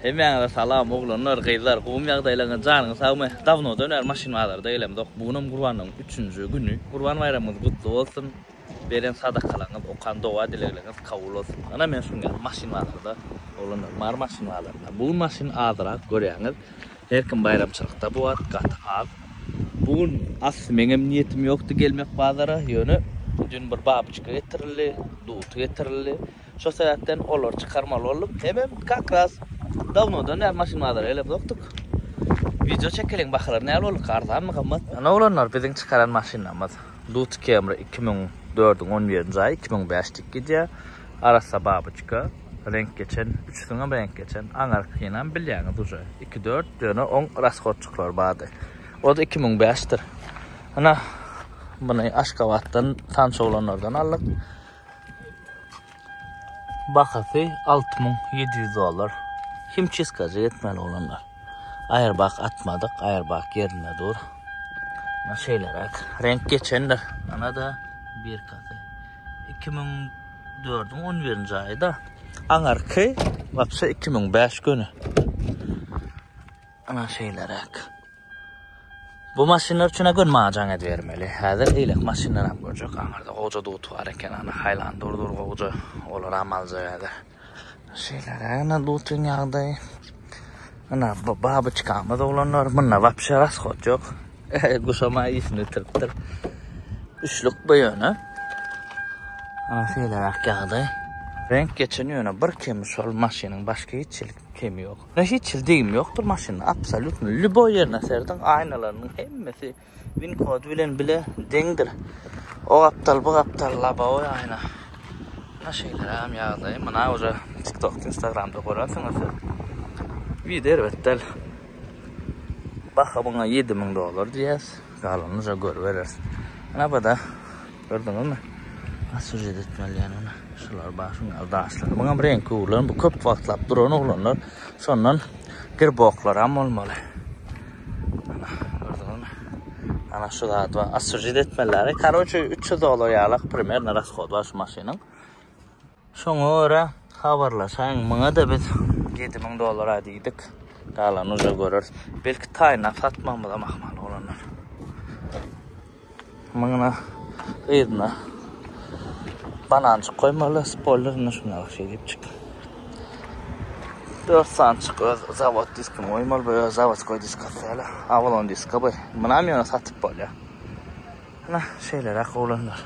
Hemmäňize salam oglanlar gyzlar gowmy ýagdaýlaňyz janyňyz sagmy dawnodan bäri maşyn bazarda gelemzok bu günem gurbanlygyň üçünji güni gurban baýramyňyz gutly bolsun beren sadakalaňyz okan doga dilegleňiz kabul bolsun ynha men şu gün geldim maşyn bazarda oglanlar mary maşyn bazarynda bu gün maşyn azyrak görýäňiz her kim baýramçylykda bu wagt gaty az bu gün asly meňem niýetim ýokdy gelmek bazara ýöne dün bir babyçka getirildi duty getirildi Şo sebäpden olary çykarmaly boldum. Hemem kakras dawnodan bäri maşyn bazara gelemzokdyk. Wideo çekeliň bahalar näl bolduka arzanmy gymmat. Ýöne oglanlar biziň çykaran maşynlarymyz Dutch Camry iki müň dördüň on ýedinji aýy iki müň bäş dik gidýär. Arassa babuçka reňk geçen üçüsiňem reňk geçen aňarkynam bilýäňiz uje iki dört ýöne oň rashodçyklary bardy. Ody iki müň bäş dir. Ynha muny Aşgabatdan tanyş oglanlardan aldyk. Bahasy 6700 dollar. Kim çiskaja etmeli olanlar. Aýerbak atmadyk, aýerbak ýerinde dur. Ana şeýleräk. Renk geçendir. Ana da birkasy. 2004-iň 11-nji aýy da. Aňarky wapşe 2005 göni. Ana şeýleräk. Bu maşynlar üçin gün majaň edibermeli. Häzir eýlek maşynlar hem görjek. Aňarda goja dut bar eken, ana haýlan durdur goja. Olar hem aljak häzir. Şeýleräk ana dutyň ýagdaýy. Ana bu babyçkamyz oglanlar, munda wapşe rasxod ýok. Guşama işini bitiripdir. Üçlük bu ýöne. Ana şeýleräk ýagdaý. Renk geçen ýöne bir kemi şol maşynyň başga hiç kemi ýok. Mena hiç hili degim ýokdur maşynda absolýutno lýuboý ýerine serediň aýnalarynyň hemmesi win kody bilen bile deňdir o gapdal bu gapdal lobowy aýna mena şeýleräm ýagdaýy mena uje tiktokda instagramda görensiňiz siz wide erbet däl baha muňa ýedi müň dollar diýýäs galanyny uje görübereris mena bada Gördüňizmi? Has sujet etmeli yani buna. Şular bar, şunlar daşlar. Bunam renk gurlan, bu köp wagtlap duran oglanlar. Şondan girboklar hem olmaly. Ana, gördüňizmi? Ana şu zat var. As sujet etmeli. Karoçe 300 dolar yalak primerno raskod var şu maşynyň. Şoňa görä habarlaşaýyň. Muňa-da biz 7000 dollara diýdik. Galany uja göreris. Belki taýynlap satmagymyzam ahmal bolandyr. Muňa gyzyna banançyk goýmaly, spoilerini şuna bir şey diýipjik. 4 sançyk öz zavod diskini goýmaly, bu öz zavodskoý disk atýarlar. Avalon diska bu. Munam ýöne satyp bolýar. Ana, şeýleräk oglanlar.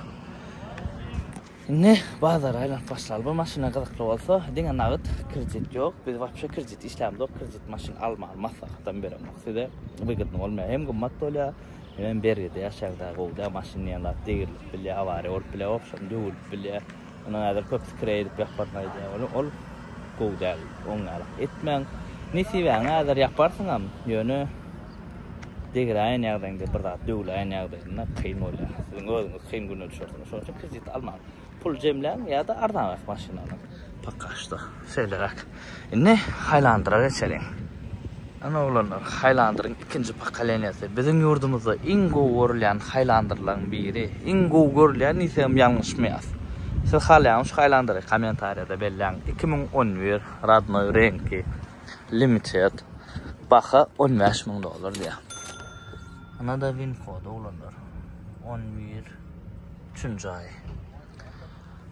Indi bazara aýlanyp başlaly. Bir maşyna gyzykly bolsa, diňe nagyt, kredit ýok. Biz wapşe kredit işlämizok, kredit maşyn almaly maslahatam beremok size. Wygydny bolmaýar. Hem gymmat bolýar, hemem bergide ýaşaýyň dagy gowy däl. Maşyn diýen zat degrilip bilýär, awariýa bolup bilýär, wapşem döwülip bilýär. Ony häzir köpüsi kireý edip ýaparyna aýdýar. Ol ol gowy däl. Oňňalak etmäň. Nesibäňi häzir ýaparsyňam, ýöne. Degräýen ýagdaýyňda bir zat döwläýen ýagdaýynda kyn bolýar. Siziň özüňiz kyn güne düşersiňiz. Şonuň üçin kredit almaň. Pul jemläň ýa-da arzanrak maşyn alyň. Poka şto şeýleräk. Indi Haýlandyra geçeliň. Ine oglanlar, Haýlandyryň ikinji pokoleniýasy. Biziň ýurdumyzda iň gowy görülýän Haýlandyrlaryň biri. Iň gowy görülýän diýsegem ýalňyşmaýas. Siz halaýaňmy şu Haýlandyry? Kommentariýada belläň. Iki müň on bir, rodnoý reňki. limited baha on bäş müň dollar diýýär. Ynada win kod oglanlar. On bir üçünji aý.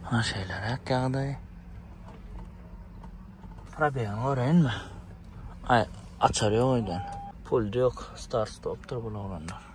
Ha şeýleräk ýagdaý. Probeýany göreýinmi? Aý, açar ýok öýden. Pul ýok, start stopdyr bul oglanlar.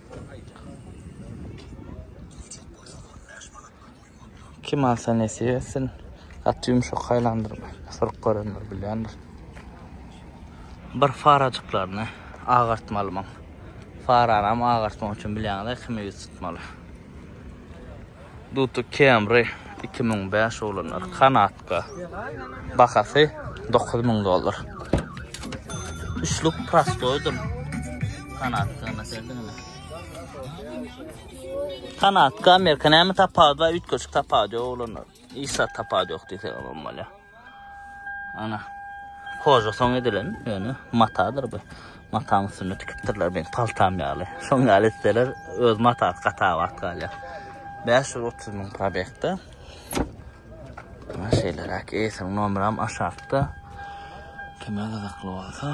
Kim alsa nesip etsin. Gaty ýumşak haýlandyrma. Sork görenler bilýändir. Bir farajyklaryny agartmaly muň. Faranam agartmak üçin bilýäňiz-ä kime ýüz tutmaly. Duty Camry iki müň bäş oglanlar kanatka bahasy dokuz müň dollar. Üçlük prostoýdyr kanatkany seldinmi? Kanatka Amerika näme tapawudy bar üýtgeşik tapawudy ýok oglanlar. Hiç zat tapawudy ýok diýseň bolýar. Ana. Hoja soň edilen, ýöne matadyr bu. Mataň üstünde tikipdirler men paltam ýaly. Şoň ýaly etseler öz matasy gata wagt galýar. 530 müň probekde. Ana şeýleräk eýsiniň nomeram aşakda. Kime gyzykly bolsa.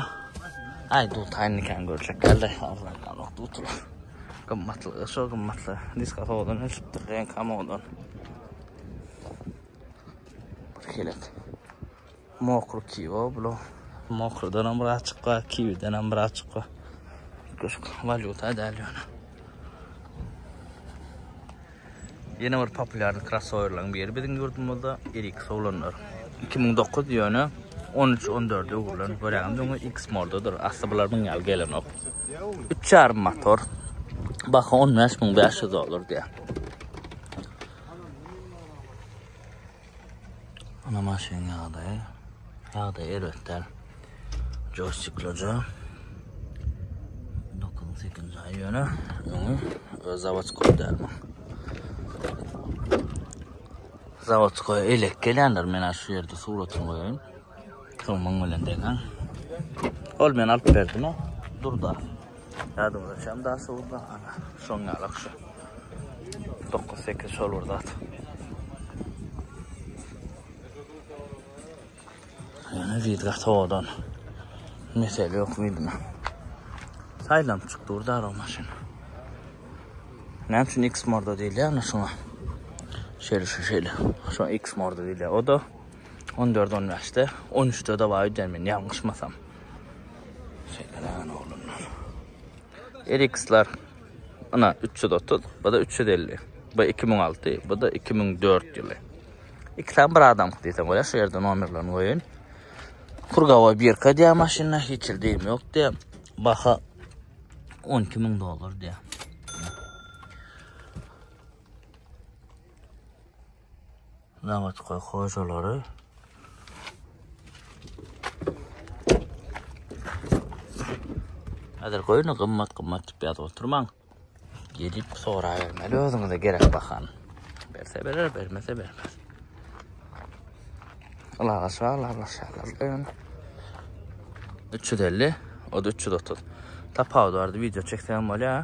Aý dutaýyn nikany görjek geldi. Arzan galok dutular. Gymmatly, şo gymmatly. Diska sowadan ölçüpdir, renka modan. Kelek. Mokry kiwi bula. Mokrydan hem biraz çykga, kiwiden hem biraz çykga. Köşk valyuta däl ýöne. Ýene bir populýarny krossowerlaryň biri biziň ýurdumyzda Erik Solanlar. 2009 ýöne 13-14 öwrülen görýän döňe X mordadyr. Asly bular muň ýaly gelenok. 3,5 motor. Baha 15500 dollar diýýär. Ana maşynyň ýagdaýy. Ýagdaýy erbet däl. Joystiklaja. 98-nji aý ýöne öňi öz zawodskoý däl. Zawodskoý elek gelýänler men şu ýerde suratyny goýaýyn. Soň muň bilen deňäň. Ol men alyp berdim o. Durda. Ýadymda şam da suwda ana. Şoň ýaly akşa. 9-8 şol bir zat. Ýöne zidga sowadan. Mesele ýok bildim. Saýlanyp çykdy durda o maşyn. Näme üçin X morda diýilýär şoňa? Şeýle şeýle. Şo X morda diýilýär. O da On dört, on bäşde, on üçde dawa öýdýän men ýalňyşmasam. Şeýle näme oglanlar. Eriksler ina üç ýüz otuz, bu-da üç ýüz elli. Bu iki müň alty, bu-da iki müň dört ýyly. Iki sany bir adam diýsem bolýar, şu ýerde nomerlerini goýaýyn. Kurgawa birka diýýär maşynda, hiç hil deýim ýok diýýär. Baha on iki müň dollar diýýär. Zawodkoý hojalary Hazır goýuny gymmat gymmat diýip ýazyp oturmaň. Gelip soraýermeli özüňize gerek bahan. Berse berer, bermese bermez. Alaga şalar, şalar. 350, o da 330. Tapawut bardy, video çeksem bolýar.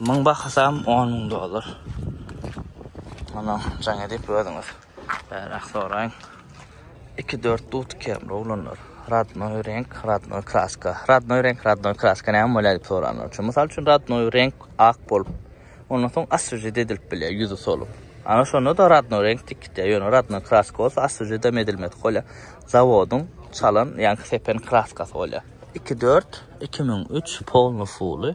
Müň bahasam on müň dollar. Muny jaň edip özüňiz bäräk soraýyň. Iki dört dut kemri oglanlar. Radnoý reňk, radnoý kraska. Radnoý reňk, radnoý kraska näme bolýar diýip soranlar üçin. Mysal üçin radnoý reňk ak bolup, ondan soň aswjet edilip bilýär, ýüzi solup. Ana şonda-da radnoý reňk diýip gitýär. Ýöne radnoý kraska bolsa aswjedem edilmedik bolýar. Zawodyň çalan ýa-da sepen kraskasy bolýar. Iki dört, iki müň üç, polny fuly.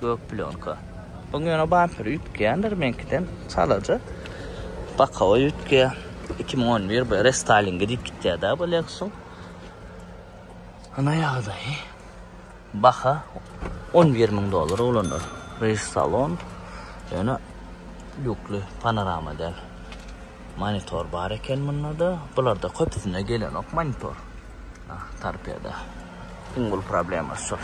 Gök plýonka. Oň ýöne bamperi üýtgeýändir meňkiden çalaja. Bokowy üýtgeýär. Iki müň on bir bu restylingi diýip gitýär-dä bu Lexus-yň. Ynha ýagdaýy. Baha on bir müň dollar oglanlar. Reýs salon ýöne lýukly, panorama däl. Monitor bar eken mundada. Bularda köpüsinde gelenok monitor. Ah, torpeda. Iň uly problema şol.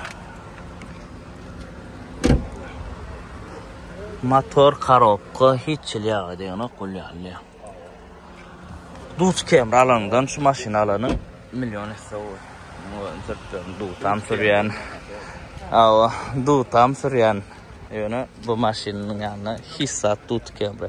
Motor, korobka, hiç çil ýagy degenok bul ýaly. Duz kemri alandan şu maşyny alanyň million esse gowy. Türklerin dutam sürýän. Awa, dutam sürýän. Ýöne bu maşynyň ýanyna hiç zat duz kemri.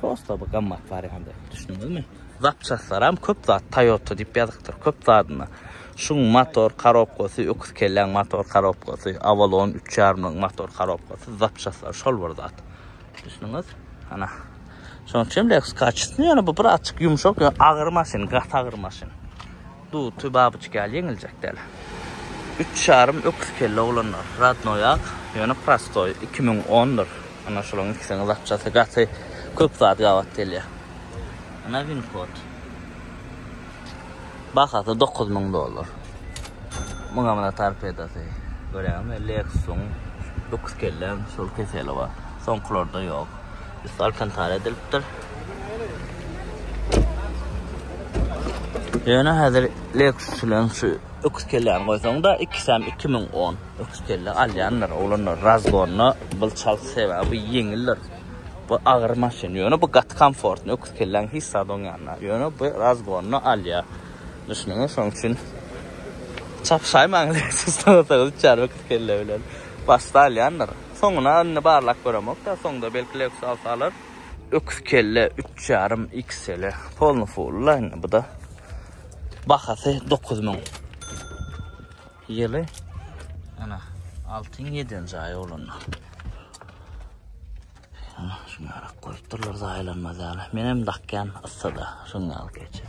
Prosta bir gammat wariandy. Düşündiňizmi? Zapçastlaram köp zat Toyota diýip ýazypdyr. Köp zadyna. Şuň motor korobkasy, öküz kelläň motor korobkasy, Avalon 3,5-nyň motor korobkasy, zapçastlar şol bir zat. Düşündiňiz? Ana. Şonuň üçin Lexus kaçysyny ýöne bu birazçyk ýumşak, ýöne agyr maşyn, gaty agyr maşyn. Duty babuçka ýaly ýeňiljek däl. Üç ýarym öküz kelle oglanlar. Radnoýak, ýöne prostoý, iki müň ondyr. Ana şulaň ikisiniň zatçasy gaty köp zat gabat gelýär. Ana winkod. Bahasy dokuz müň dollar. Muňa muna torpedasy. Görýäňizmi, Lexus-yň öküz kelläň şol keseli bar. Soňkularda ýok. Üsti alkantara edilipdir. Ýöne häzir Lexus bilen şu öküz kelläni goýsaň-da, ikisem 2010 öküz kelle alýanlar, oglanlar razgonda bul çalt sebäbi ýeňildir. Bu agyr maşyn, ýöne bu gaty komfortny, öküz kelläň hiç zady oňýanda. Ýöne bu razgonda alýar. Düşündiňmi? Şonuň üçin çapyşaýmaň Lexus-dan, öküz kelle bilen. Başda alýanlar. Soňuna indi barlap göremok-da, soňda belki Lexus alsa alar. Öküz kelle üç ýarym XL-e polny fully-la indi bu-da. Bahasy dokuz müň. Ýyly ana altyň ýedienji aýy bolanda. Ana şuňarak goýupdyrlar zaýalanmaz ýaly. Menem dakýan yssyda şuny alyp geçip.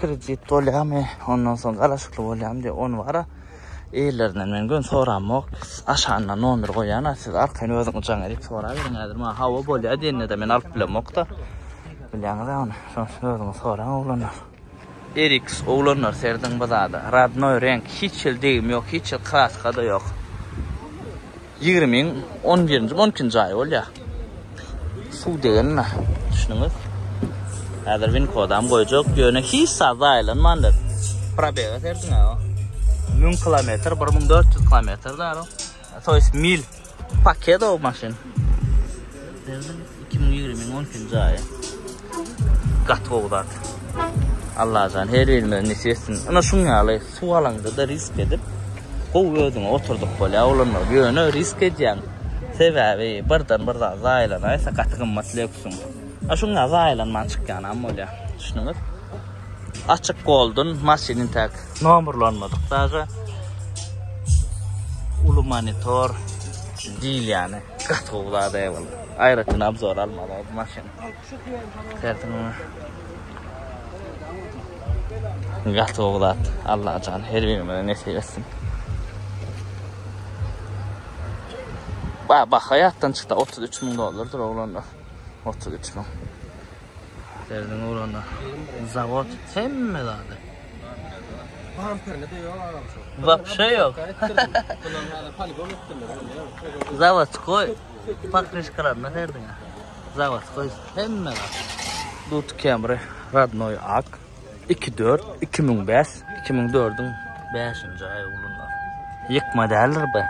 Kredit bolýamy, ondan soň galaşykly bolýamy diýip, ony wara eýlerinden men göni soramok. Aşagynda nomer goýýan-a, siz arkaýyn özüňiz jaň edip soraberiň. Häzir maňa hawa bolýar diýende-de men alyp bilemok-da. Bilýäňiz-ä ony. Şonuň üçin özüňiz soraň, oglanlar. Eriks, oglanlar serediň bu zada. Rodnoý reňk, hiç hili degim ýok, hiç hili kraska-da ýok. Ýigrimiň on birinji, on ikinji aýy bolýar. Suw degenme, düşüniňiz. Häzir win kodam goýjak, ýöne hiç zat zaýalanmandyr. Probega serediň-ä. Müň kilometr, bir müň dört ýüz kilometr zar. To ýest mil. Pakedo maşyn. Iki müň ýigrimiň on ikinji aýy. Gaty gowy zat. Allajan her birimize nesip etsin. Ana şuň ýaly suw alaňda-da risk edip, gowy özüňe oturdyp bolýar. Olanlar ýöne risk edýän. Sebäbi birden bir zat zaýalanaýsa gaty gymmat lýuksyň. A şuň ýaly zaýalanman çykýanam bolýar. Düşündüňiz? Açyk goldun maşynyň tak nomerlanmadyk daja. Ulu monitor diýilýäni gaty gowy zat eýwallah. Aýratyn obzor almaly maşyn. Gaty gowy zat. Allajan her birimize nesip etsin. Ba baha ýatdan çykda 33 müň dollardyr oglanda. 33 müň. Serdiň oglanda. Zawod hemme zady. Bamperine de ýok agam şu. Wapşe ýok. Zawod goý. Pokrişkalarynda her diňe. Zavodskoý hemme zat. Dut Camry radnoý ak. 2-4, 2005, 2004-iň 5-nji aýy ulunda. Ýykma däldir be.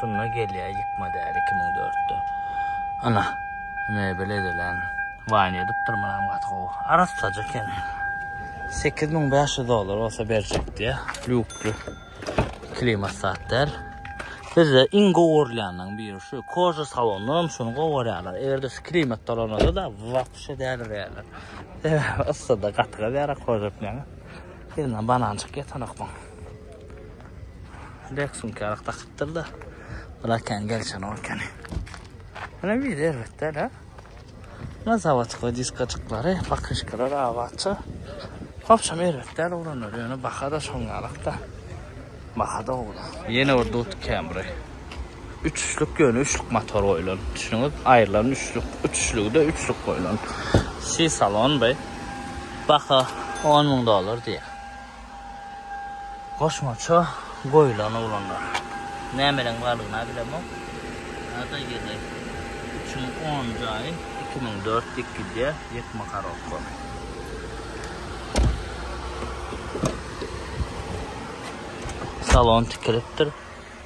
Şunda gelýä ýykma däl 2004-de. Ana, mebel edilen. Waýn edipdir munam gaty gowy. Arassaja eken. 8500 dollar bolsa berjek diýä. Lýukly. Klimat satýar. Bizde iň gowy görülýäniň biri şu koja salonynda hem şuny gowy görýärler. Eger-de şu klimat dolananda da wapşe dälirýärler. Sebäbi yssyda gaty gazyýar koja bilen. Ýerinden bananjyk ýetenok bu. Rek sumkarak dakypdyr-da. Bulakan gelişen okany. Ana bir erbet däl-ä. Muna zawadka diskajyklary, bakişkalar abatça. Hopşam erbet däl oglanlar, ýöne baha-da şoň ýalakda. Baha-da ownuk. Ýene bir Dut Camry. Üçlük, ýöne üçlük motor goýlan. Düşüniňiz, aýrylan üçlük, üçligi-de üçlük goýlan. C-salon bu. Baha on müň dollar diýýär. Goşmaça goýlan oglanlar. Nämeleň bardygyna bilemok. Ada ýyly üçin on jaý iki müň dört dik gidýär ýek makarowka. Salon tikilipdir.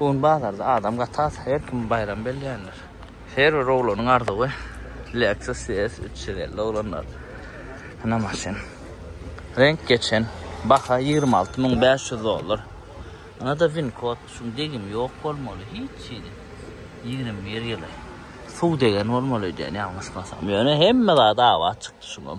Bu gün bazarda adam gaty az, her kim baýram belleýänler. Her bir oglanyň arzuwy Lexus ES üç ýüz elli oglanlar ina maşyn. Reňk geçen, baha ýigrimi alty müň bäş ýüz dollar. Ynada win kod, şuň degimi ýok bolmaly, hiç hili. Ýigrimi bir ýyly. Suw degen bolmaly öýdýän ýalňyşmasam. Ýöne hemme zat abat çykdy şuňam.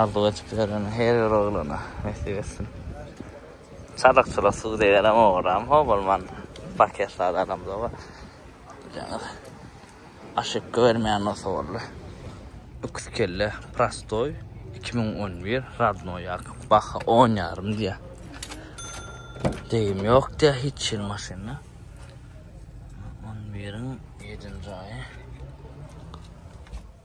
Arzuw edip ýören her bir oglana nesip etsin. Çadykçyla suw degerem ogram ho bolman paket zat alamda bar. Jaňyr. Aşykga bermeýän bolsa boldy. Öküz kelle prostoý iki müň on bir radnoý ýak baha on ýarym diýýä. Degim ýok diýýä hiç hil maşynda. On biriň ýedinji aýy.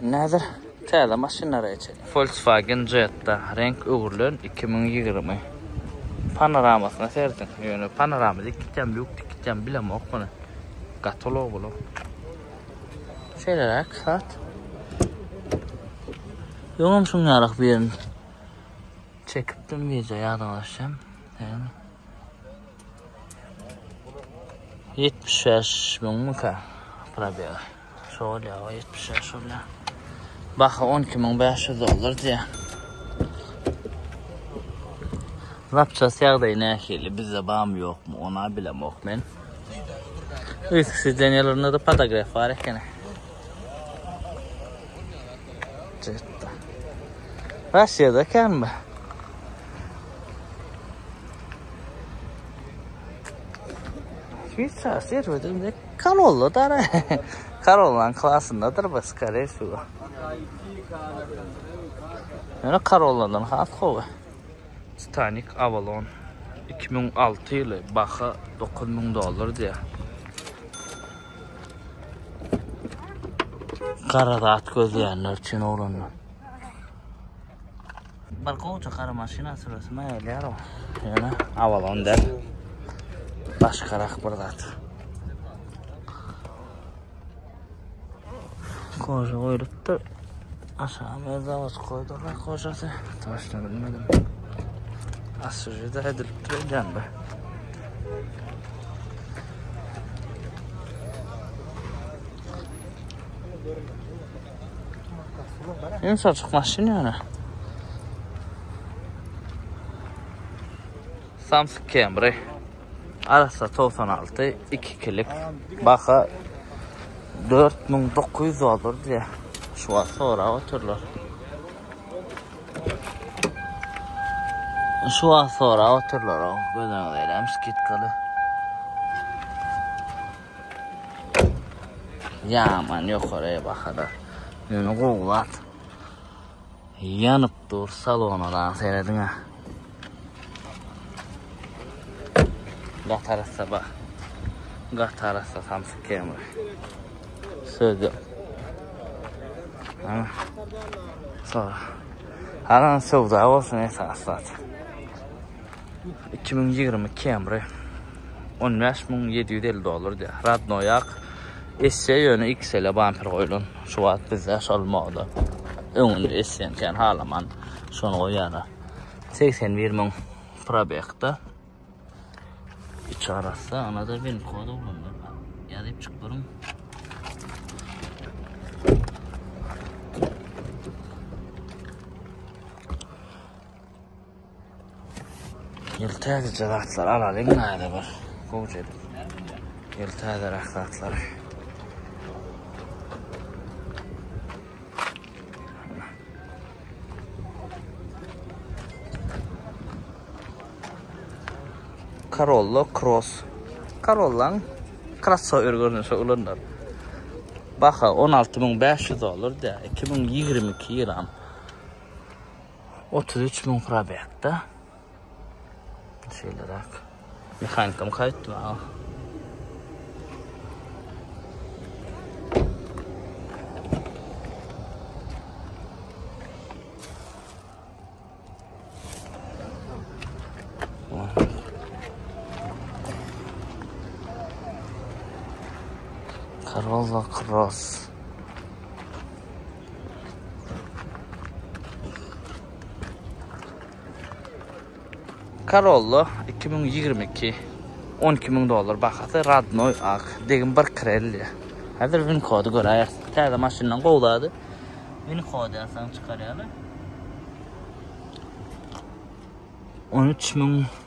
Näder täze maşynlara geçeli. Volkswagen Jetta reňk öwrülen iki müň ýigrimi. Panoramasyna serediň. Ýöne panorama dik gitýämi, ýuk dik gitýämi bilemok muny. Gaty ulag bul. Şeýleräk zat. Öňem şunýarak birini çekipdim wideo ýadyňyza düşsem. Ýöne. Ýetmiş bäş müňmükä probega. Şo bolýa o ýetmiş ýaş bolýa. Baha on iki müň bäş ýüz dollar diýä. Zapças ýagdaýy nähili? Bizde bamy ýokmy? Ona bilemok men. Üýtki sideniýalarynda da podograf bar ekeni. Jetda. Russiýada ekenmi? Şweýsariýa serwedinde Korolla dar. Korollan klasyndadyr bu skare şu. Ýöne korolladan has gowy. Stanik Avalon 2006 ýyly baha 9000 dollar diýýär. Gara zat gözleýänler üçin oglanlar. Bir gowja gara maşyna süresi maňa gelýär o. Ýöne Avalon däl. Başgarak bir zat. Koža goýlupdyr. Aşağı öz zavod koýdurlar kojasy. Taşla bilmedim. Asıcı da edilipdir edýän be. Ýöne şol çyk maşyn ýöne. Samsung Camry. Arasa 96, 2 kilik. Baka 4900 dollar diýe. Şu wagt sorap otyrlar. Şu wagt sorap otyrlar o göz öňünde skidkaly. Ýaman ýokary bahada. Ýöne gowy zat. Ýanyp dur salona da serediň ha. Gatarasa bak. Gatarasa samsy kemri. Söz yok. Sonra. Haran sövda olsun esas zaten. Iki müň ýigrimi Camry on bäş müň ýedi ýüz elli dollar diýýär. Radnoýak esse ýöne XL-e bamper goýlan. Şu wagt bizde şol moda. Öňünde essen kän halaman şony goýýarlar. Segsen bir müň probekde. Iç arassa, ana-da bin kod ulanýar. Ýazyp çyk duruň. Ýyl täzeje zatlar alalyň näde bir. Gowja edip. Ýyl täze rahsatlar. Corolla Cross. Corollan crossover görnüşe ulanlar. Baha 16500 dollar da 2022 ýylam. Otuz üç müň probekde. Şeýle rak. Mehanikam kayıt var. Corolla Cross. Corolla 2022 12 ming dollar bahasy radnoy ak degim bir krelli. Hazır win kody göräýär. Täze maşyndan gowlady. Win kody ýasan çykarýarlar. 13 ming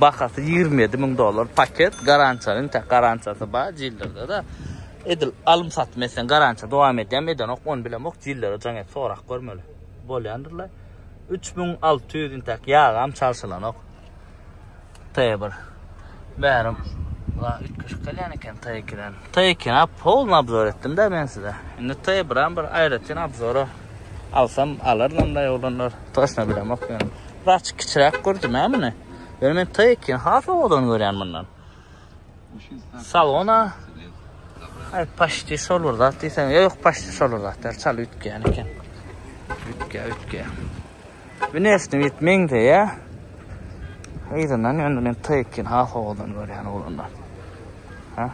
Bahasy 27 müň dollar paket. Garantiýalyň tä garantiýasy bar jillerde-de. Edil alym satym etseň garantiýa dowam edýärmi, edenok, ony bilemok. Jillere jaň et, sorap görmeli. Bolýandyrlar. 3600 intäk ýagam çalşylanok. T1. Bärim la üýtgeşik gelýän eken T2-den. T2-ni polny obzor etdim-de men size. Indi T1-äm bir aýratyn obzora Alsam alarynam-da oglanlar. Toşna bilemok ýöne. Birazjyk kiçiräk gördüm-ä muny. Ýöne men T2-ni has owadan görýän mundan. Salon-a Ay paşti şol bir zat diýseň, ýok paşti şol bir zat der, çal üýtgeýän eken. Üýtgeýär, üýtgeýär. Wnesni bit meňzeýä. Yzyndan ýöne men T2-ni has owadan görýän oglanlar. Ha?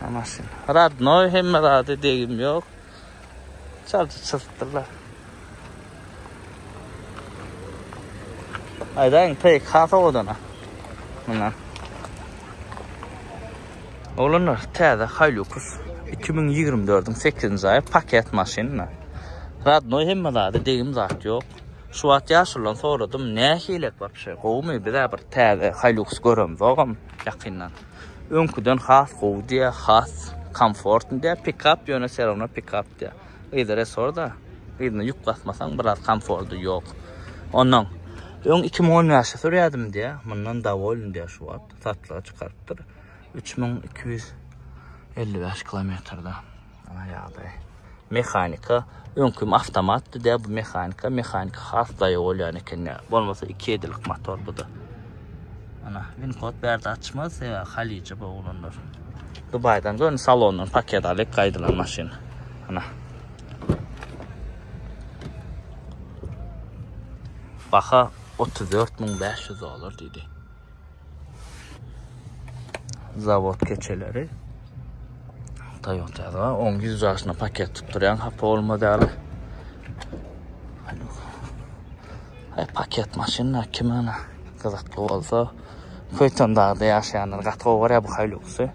Amasin. Radnoy hemme zady degim yok. Çalçı çılttılar. Aydan pek hasa odana. Bundan. Olanlar täze Hilux 2024-ün 8-nji aýy paket maşynyna. Radnoy hemme zady degim zat yok. Şu wagt ýaşulan soradym, nähilek bar şu? Gowumy? Bizä bir täze Hilux göremzogam ýakyndan. Öňküden has gowy diýýär, has komfortny diýýär. Pikap ýöne se rawno pikap diýýär. Yzy resorda, yzyna ýük basmasaň biraz komfordy ýok. Onnoň öň iki müň on bäşde sürýärdim diýýär, mundan dowolny diýýär şu wagt, satlyga çykarypdyr. Üç müň iki ýüz elli bäş kilometrde. Ana ýagdaý. Mehanika öňki awtomatdy dä bu mehanika. Mehanika has daýy bolýan eken dä. Bolmasa 2 edilik motor bu da. Ana win kod bärde açmaz sebä halyja bu oglanlar. Dubaýdan gön salondan paket alyp gaýdylan maşyn. Ana. Baha 34500 dollar diýdi. Zawod keçeleri. Toyota da 10 ýüz ýaşyna paket tutdurýan hapa bolmaz ýaly. Ay paket maşynlar kim ana gyzykly bolsa Köytan dağda yaşayanlar gat gowy görýär bu Hilux'y.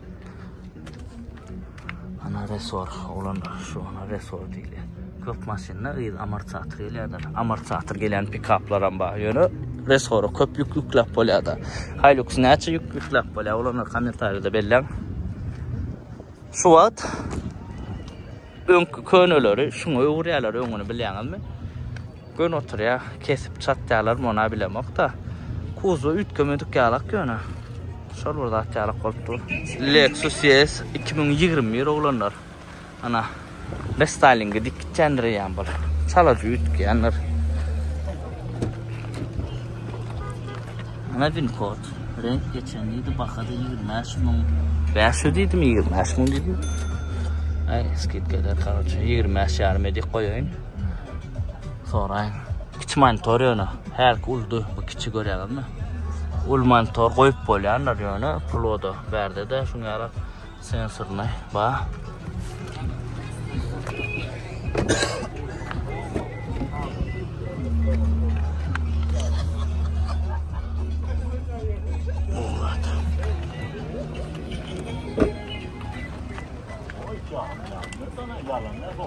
Ana resor, oglanlar, şu ana resor diýilýär. Köp maşynda yz amortizator gelýärdir. Amortizator gelýän pikaplaram bar. Ýöne resory köp ýük ýükläp bolýar-da. Hilux näçe ýük ýükläp bolýar? Oglanlar kommentariýada belläň. Şu wagt öňki köneleri şuňa öwürýärler, öňüni bilýäňizmi? Gön oturýa kesip çatýalar mona bilemokda kuzwa üýtgemedik ýalak ýöne şol bir zat ýalak bolup dur. Lexus ES iki müň ýigrimi bir oglanlar ana restaýlinge dik gitýändir eýýäm bol çalaja üýtgeýändir. Ana win kod renk geçen diýdi baha da ýigrimi bäş müň bäş ýüz diýdimi ýigrimi bäş müň diýdi. Aý skidka eder karoçe ýigrimi bäş ýarym edik goýaýyn. Soraýyn. Kiçi monitor ýöne. Hälki uldy, bu kiçi görýäňizmi? Ul monitor goýup bolýandyr ýöne ploda. Bärde-de şuň ýaly sensorny bar. Yalan ne bu?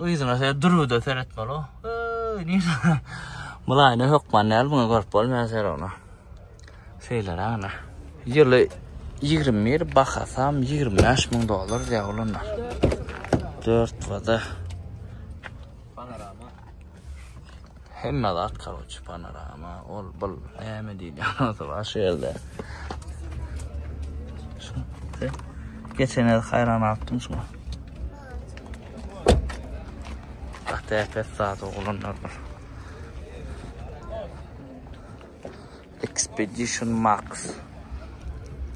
Yzyna şeýle dürüde seretmeli o. Öy, nirä? Mylaýyny hökman däl, muny görüp bolmaýar serowna. Şeýleräk ana. Ýyly 21, bahasam 25 müň dollar diýýär olanlar. 4 wada. Panorama. Hemme zat karoçi panorama ol bul näme diýýän olsa bar şu ýerde. Geçen ýerde haýran atdym şuňa. Hatta pes zat oglanlar bar. Expedition Max.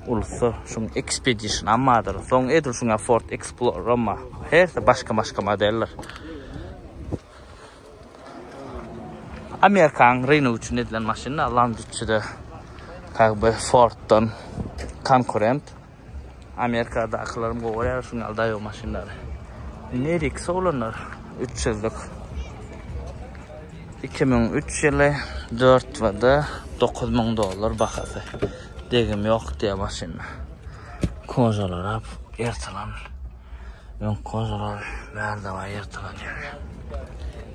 Ulsa şuň Expedition ammadyr. Soň edil şuňa Ford Explorer amma. Her başga-başga modeller. Amerikan rynok üçin edilen maşynlar Land 300-de как бы Ford-dan konkurent. Amerikadakylarym gowy görýär şu ýaly daýaw maşynlary. Nerik solanlar 300-lük. 2003 ýyly 4 wada 9000 dollar bahasy. Degim ýok diýe maşynda. Kojalar ap ertalan. Öňki gojalar bärde-baý ýyrtylan ýaly.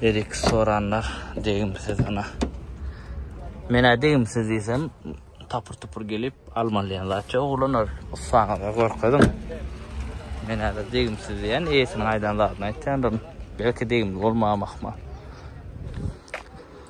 Berik soranlar degimsiz ýna. Men-ä degimsiz diýsem, tapyr-tupur gelip almaly diýen zat ýok. Oglanlar, ussaňyza görkeziň. Men häzir degimsiz diýen, eýesiniň aýdan zadyny aýtýandyryn. Belki degimli bolmam ahmal.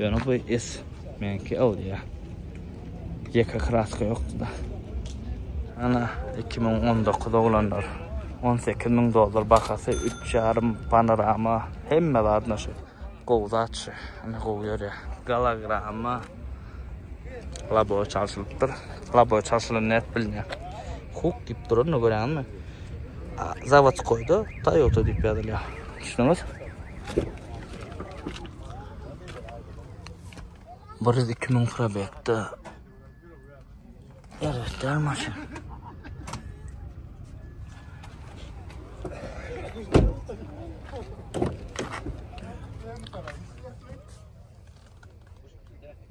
Ýöne bu es menki awlýa. Ýeke kraska ýokdy-da. Ana 2019 oglanlar. 18 müň dollar bahasy, üç ýarym panorama, hemme zady naşy. Gowy zat şu, ine gowy ýörýär. Gologramma labowy çalşylypdyr. Labowy çalşylan nädip bilner? Huk diýip duranyny görýäňizmi? Zawodskoýda Toyota diýip ýazylýar. Düşdüňiz? Bir yüz iki müň probekde. Evet, der maşyn.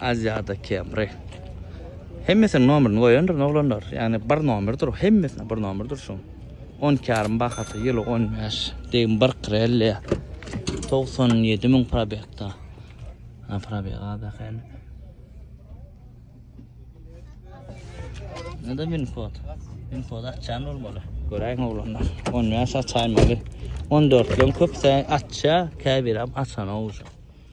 Aziada Camry. Hemmesiniň nomerini goýandyr oglanlar. Ýagny bir nomerdir, hemmesine bir nomerdir şu. 12 ýarym bahasy, ýyly 15, degim 1.50. 97 müň probekda. Ha probek az eken. Nada min kod. Min kod açan olmaly. Göräýiň oglanlar. 15 açaýmaly. 14 lüň köpse açsa, käbir hem açana olsa.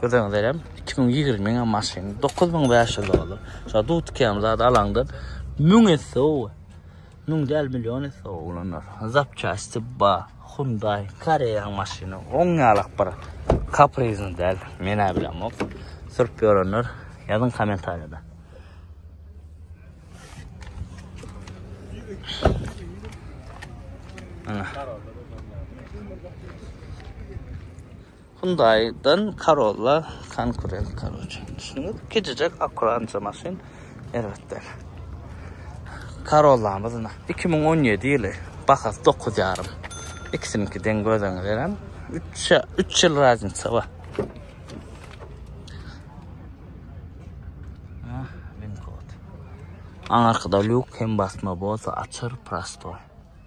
Göreňizlerem iki müň ýigrimi ňa maşyn dokuz müň bäş ýüz dollar. Şa dut kem zat alaňdan müň esse ow. Müň däl million esse ow oglanlar. Zapçasty ba Hyundai Koreýaň maşyny oň ýalak bir kaprizny däl. Menä bilemok. Sürüp ýörenler ýazyň kommentariýada. Ana. Hyundai'dan Corolla konkurent karoce. Düşündiňiz? Kicijek akkurança maşyn erbet däl. Corollamyz ine. Iki müň on ýedi ýyly. Bahasy dokuz ýarym. Ikisiniňki deň göz öňe gelen. Üç, üç ýyl razniça bar. Aňarkada lýuk hem basma bolsa açar prostoý.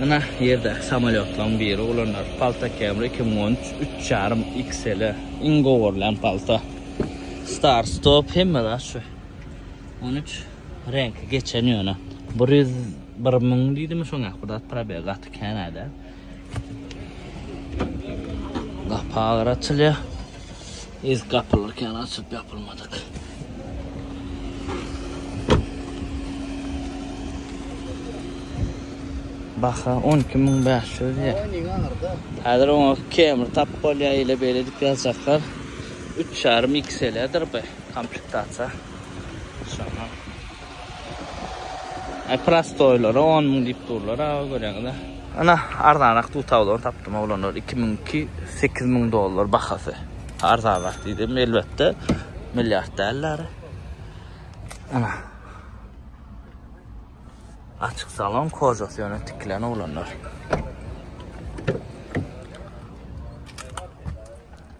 Mına ýerde samolýotlaryň biri ulanýar. Palta Camry iki müň on üç, üç ýarym XL. Iň gowy görlen palta. Star stop hemme zat şu. On üç reňki geçen ýöne. Bir ýüz bir müň diýdimi şoňa bir zat probeg gaty kän-ä däl. Gapar açylýar. Ilk gapylyrken açyp ýapylmadyk. Baha 12500 ýa. Häzir oňa kemir tap bolýar, ile beýle edip ýazjaklar. 3,5 XL-dir bu komplektasiýa. Şondan Ay prostoýlara on müň diýip durlar aga görýäňiz-ä. Ana arzanrak dutawlany tapdym oglanlar iki müňki sekiz müň dollar bahasy arzanrak diýdim elbetde milliard däldir ana açyk salon kožasy ýöne tikilen oglanlar.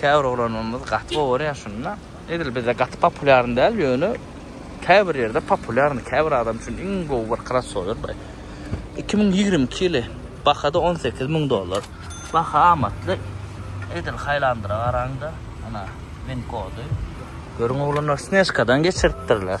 Käbir oglanlarymyz gaty gowy görýär şuny da. Edil bizde gaty populýarny däl, ýöne käbir ýerde populýarny. Käbir adam üçin iň gowy bir krossower bu. 2022 ýyly bahada 18 müň dollar. Baha amatly. Edil haýlandyra garaň-da. Ana, win kody. Görüň oglanlar snežkadan geçiripdirler.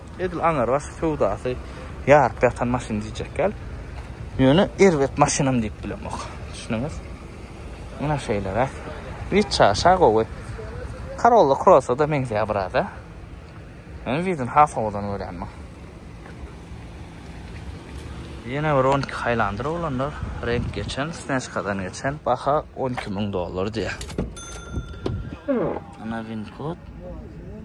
Edil aňyrbaş söwdasy ýaryp ýatan maşyn diýjekgäl. Ýöne erbet maşynam diýip bilemok. Düşündiňiz? Ine şeýleräk. Witça şa gowy. Corolla Cross-a-da meňzeýär biraz, hä? Men widini has owadan görýän muň. Ýene bir on iki haýlandyr oglanlar. Reňk geçen, snejkadan geçen. Baha on iki müň dollar diýýär. Ana winkod.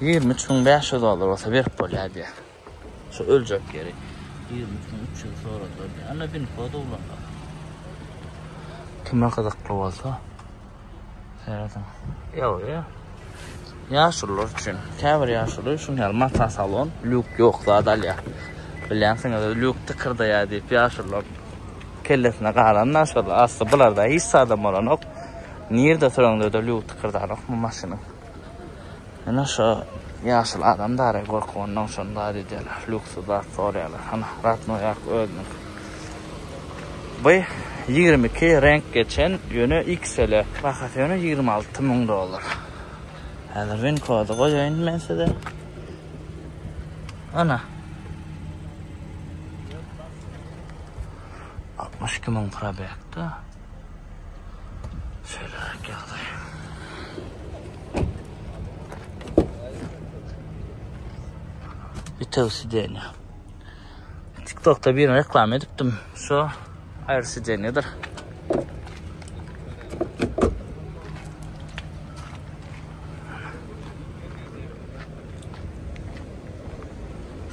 Ýigrimi üç müň bäş ýüz dollar bolsa berip bolýar diýýär. Şu öljek ýeri ýigrimi üç müň üç ýüz soradylar diýýär. Anna bin kod ulandyk. Kime gyzykly bolsa serediň. Ýok, ýa. Ýaşulylar üçin. Käbir ýaşuly şuny ýaly mata salon, lýuk ýok zat alýar. Bilýänsiňiz, lýuk tykyrdaýar diýip ýaşulylar kellesine galan naşalar. Asly bularda hiç zadam bolanok. Nirde soraňda-da lýuk tykyrdanok bu maşynyň. Ene şo ýaşuly adam dary gorkup ondan şony zat edýärler luksus zat sorýarlar hany ratno ýark özüniň bu ýigrimi iki reňk geçen ýöne xl bahasy ýöne ýigrimi alty müň dollar häzir win kody goýaýyn men size ana altmyş iki müň probekda Şeýleräk ýagdaý. Bitew sidenýa. TikTokda birini reklama edipdim. Şu aýry sidenýadyr.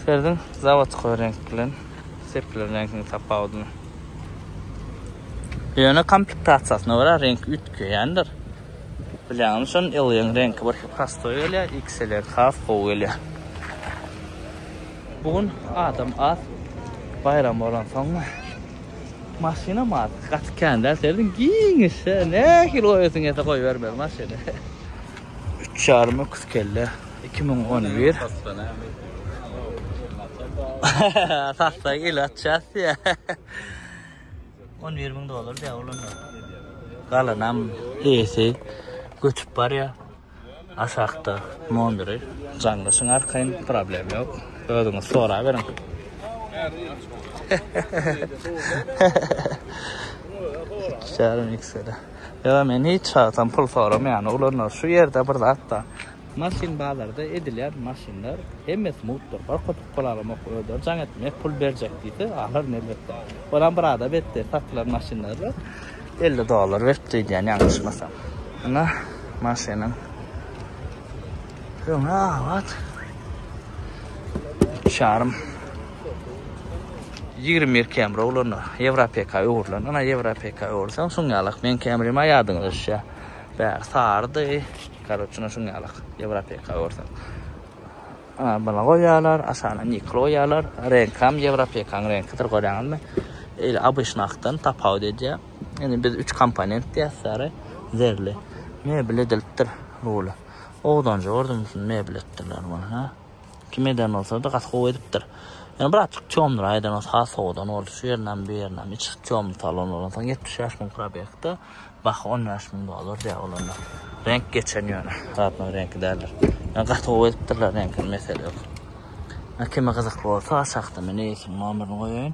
Şerdiň zawodkoý reňk bilen sepler reňkiniň tapawudyny. Ýöne komplektasiýasyna görä reňki üýtgeýändir. Bilýäňmi şony L-yň reňki bir prostoý gelýär, XL has gowy gelýär. Bu gün adam az, baýram bolansoňmy, maşynam az, gaty kän däl, serediň giňişje, nähili goýasyň gelse goýbermeli maşyny. Üç ýarym öküz kelle iki müň on bir. Satsa il atças diýä. On bir müň dollar diýä olanda. Galanam eýesi göçüp barýa. Aşakda mondyry. Jaňlaşyň arkaýyn, problem ýok. Özüňiz sorap beriň. Şärim eksele. Ýöne men hiç wagtam pul soramaýan oglanlar şu ýerde bir zatda maşyn bazarda edilýän maşynlar hemmesi mugtdyr bir köpük pul alamok özleri jaň etmek pul berjek diýse alaryn elbetde olam bir ada betde satylan maşynlara elli dollar beripdi öýdýän ýalňyşmasam ine maşynyň öňi abat üç ýarym Ýigrimi bir kemri oglanda Ýewropeka öwrülen. Ana Ýewropeka öwürseň şuň ýalak. Meň kemrim a ýadyňyza düşýä. Bäri sarydy. Karoçe ine şuň ýalak. Ýewropeka öwürseň. Ana buna goýýarlar. Aşagyna nikl goýýarlar. Reňkam Ýewropekaň reňkidir görýäňizmi? Eýle abyşny akdan tapawut edýär. Indi biz üç komponent diýýäs sary, zerli. Mebel edilipdir ruly. Ogdanjy gördüm şuny mebel etdirler muny. Kim eden bolsady gaty gowy edipdir. Ýöne bir azjyk çomdur aýdan bolsa has sowadan boldy şu ýerinem bu ýerinem içi çomdy salon bolan soň ýetmiş bäş müň probegde baha on bäş müň dollar diýýär bolanda reňk geçen ýöne zatlaryň reňki däldir ýöne gaty gowy edipdirler reňkini mesele ýok kime gyzykly bolsa aşakda men eýesiniň nomerini goýaýyn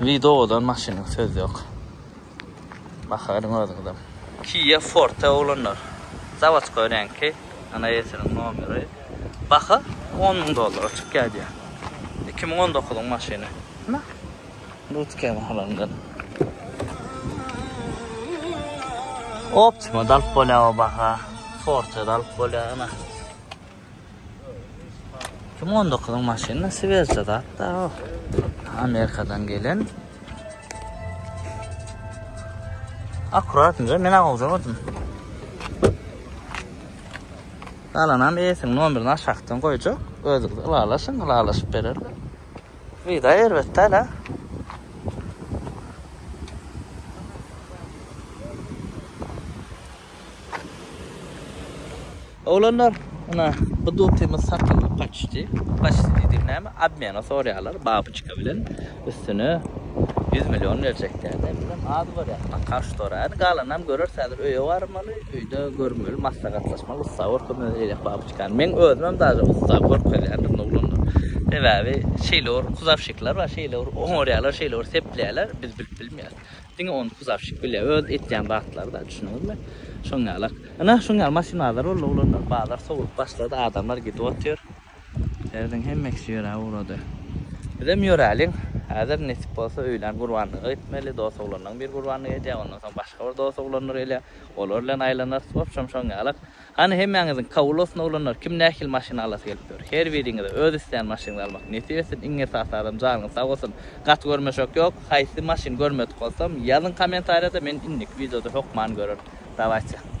Video odan maşynyň söz yok. Bakaryň özüňizem. Kia Forte oglanlar. Zawodskoý reňki. Ana ýesiniň nomeri. Baha 10 müň dollara çykýar diýýär. 2019-yň maşyny. Na. Lutke mahalandan. Optima dalyp bolýar o baha. Forte dalyp bolýar ana. 2019 yň maşyny swezja zat da o. Amerikadan gelen. Akkuratynca men agawja gördüm. Galanam eýesiniň nomerini aşakdan goýjak. Özüňiz ylalaşyň, ylalaşyp bererler. Vida erbet däl ha. Oglanlar ina bu dutymyz satyldyp gaçyşdy. Gaçyşdy diýdigiň näme? Obmena sorýarlar babyçka bilen. Üstüne 100 million berjek diýýär. Men bilem az bolýar. Bakar şu tora. Indi galanynam göreris. Häzir öýe barmaly. Öýde görmeli, maslahatlaşmaly. Ussa görkezmeli eýläk babyçkany. Meň özümem daže ussa görkezýändir indi oglanlar. Sebäbi şeýle bir kuzawşikler bar. Şeýle bir oňarýarlar, şeýle bir sepleýärler. Biz bilip bilmeýäris. Diňe ony kuzawşik bilýär. Öz etýän zatlary-da, düşündiňizmi? Şoň ýalak. Ynha, şoň ýaly maşynazar boldy oglanlar. Bazar sowlup başlady, adamlar gidip otyr. Ýerden hemmekisi ýöräp ugrady. Bizem ýöräliň. Häzir, nesip bolsa, öýlän gurbanlyga gitmeli. Dos oglanlaň bir gurbanlygy edýär, ondan soň başga bir dos oglanlar gelýär. Olar bilen aýlanarys. Wobşem, şoň ýalak. Hany hemmäňiziň kabul bolsun oglanlar kim nähili maşyn alasy gelip ýör her biriňize öz islän maşynyňyzy almak nesip etsin iň esasy adam janyňyz sag bolsun gaty görmeşek ýok haýsy maşyn görmedik bolsam ýazyň komentariýada men indiki wideoda hokman görerin dawayçy.